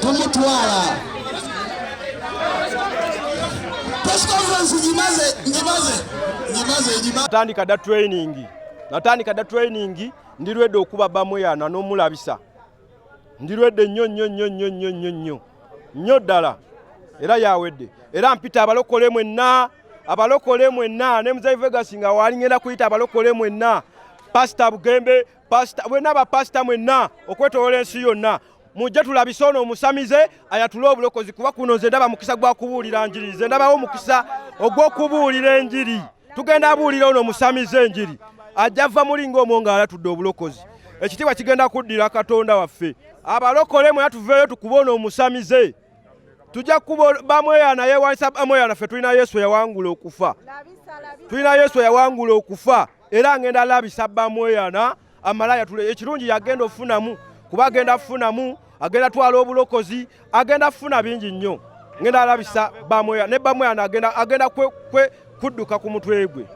tumutwala natandika da training natandika da training ndi ready okuba bamweyana n'omulabisa ndirwedde nnyo nnyo nnyo nnyo nnyo nnyo nnyo nnyo ddala era yawedde era mpita abalokole mwenna abalokole mwenna ne muzeyi vegasi nga waali ngenda kuyita abalokole mwenna pasita bugembe pasita bwenna bapasita mwenna okwetoola ensi yonna mujje tulabise ono omusamize ayatule obulokozi kuba kuno nze ndaba mukisa gwa kubuulira njiri nze ndabawo omukisa ogw'okubuulira enjiri tugenda abuulira ono omusamize enjiri ajja va muli ng'omwo ng'alatudde obulokozi ekitiibwa kigenda kuddira katonda waffe abalokole mwena tuveeyo tukube ono omusamize tujja kukuba bamweyana yewanisa bamweyana ffe tulina yesu eyawangula okufa tulina yesu eyawangula okufa era ngenda labisa bamweyana amalaya tule ekirungi yagenda ofunamu kuba agenda funamu agenda twala obulokozi agenda funa bingi nnyo ngenda alabisa bamweya ne bamweya agenda agenda kwe, kwe kudduka ku mutwe gwe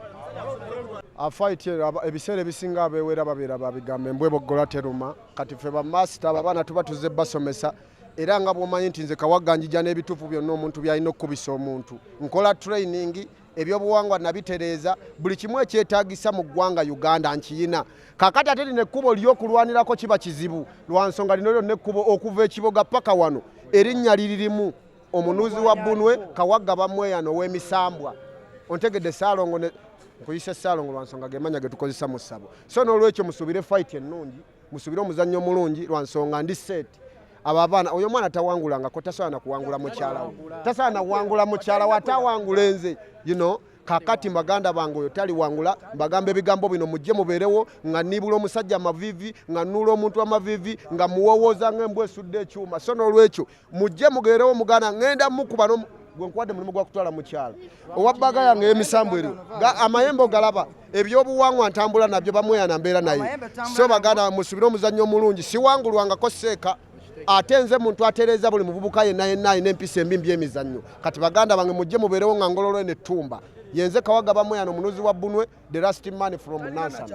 afaiti ebiseera ebisinga abewera babeera babigambe mbweboggola teruma kati fe bamasita abaana tuba tuze basomesa era nga bwomanyi nti nze kawaganjija n'ebituufu byonna omuntu byalina okukubisa omuntu nkola training ebyobuwangwa nabitereeza buli kimu ekyetagisa mu ggwanga uganda nkiyina kakati ate lino ekkubo lyokulwanirako kiba kizibu lwa nsonga lino lyonna ekkubo okuva ekiboga paka wano erinnya liririmu omunuuzi wa bunwe kawagga bamweyano ow'emisambwa ontegedde saalongo nkuyise saalongo lwa nsonga gemanya getukozesa mu ssabo so n'olwekyo musuubire fayiti ennungi musubire omuzannyo omulungi lwa nsonga ndi seeti abo abaana oyo omwana tawangulangako tasobola nakuwangula mukyalawo tasobola nakuwangula mukyalawo ate awangula enze you know kakati mbaganda bange oyo taliwangula mbagamba ebigambo bino mujje mubeerewo nga niibula omusajja amavivi nga nuula omuntu amavivi nga muwowooza nga embwa esudde ekyuma so n'olwekyo mujje mugerewo mugana ngenda mukuba no gwenkwade mulimu gwa kutwala mukyala owabbaga yange emisambu eriwo amayembe ogalaba ebyobuwangwa ntambula nabyo bamweyana mbeera naye so baganda musubire omuzannyo omulungi siwangulwangako seeka ate nze muntu atereeza buli muvubuka yenna yenna alina empisa embi mbyemizannyo kati baganda bange mujje mubeerewo nga ngololo eno ettumba yenze kawaga bamweyana omunuzi wa bunwe the last man from nansan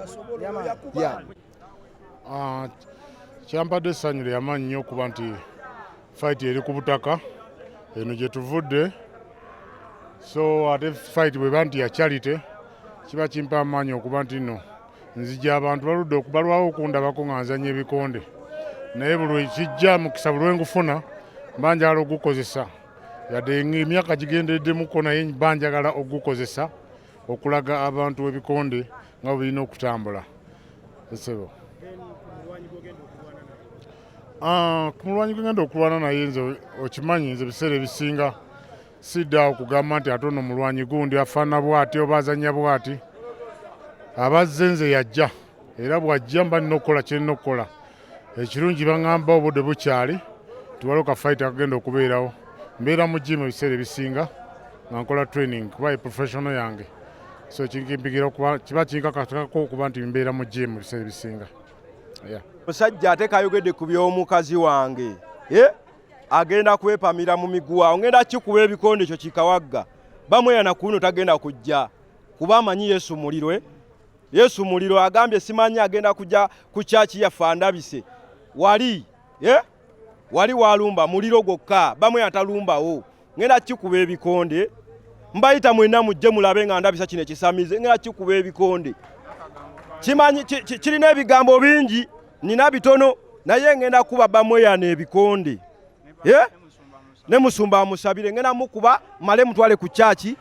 yeah. Ah, kyampadde essanyu lyamaanyi nnyo okuba nti fayiti eri ku butaka eno gye tuvudde so ate fayiti bweba nti ya charity kiba kimpa amaanyi okuba nti no nzija abantu baludde okubalwawo okundabako nga nzanya ebikonde naye buli ekijja mukisa buli wengufuna mba njagala ogukozesa yadde emyaka gigendereddemukko naye mba njagala ogukozesa okulaga abantu ebikonde nga birina okutambula esebo ah, ku mulwanyi gwegenda okulwana naye nze okimanyi nze ebiseera ebisinga sidda okugamba nti ate ono mulwanyi gundi afaana bwati oba azanya bwati abazze nze yajja era bwajja mba nina okukola kyerina okukola ekirungi baŋamba obudde bukyali tiwaliwo ka fight akagenda okubeerawo mbeera mu jimu ebiseera ebisinga nga nkola training kuba e professional yange so kinkimpigira okuba kiba kinkakatako okuba nti mbeera mu jimu ebiseera ebisinga musajja ate kayogedde ku by'omukazi wange eh? agenda kwepamira mu miguwa ongenda kikuba ebikonde ekyo kikawagga bamweyana kuno tagenda kujja kuba amanyi yesu mulirwe Yesu muliro agambye simanyi agenda kuja ku church ya fandabise wali eh wali walumba muliro gwokka bamwe atalumbawo ngenda kikuba ebikonde mbayita mwena mujje mulabe nga ndabisa kino ekisamize ngenda kikuba ebikonde kimanyi kirina ebigambo bingi nina bitono naye ngenda kuba bamweyana ebikonde eh ne musumba amusabire ngena mukuba male mutwale ku kyaki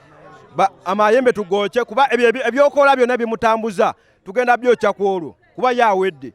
amayembe tugookye kuba ebyokola byonna bimutambuza tugenda byokya ku olwo kuba ye awedde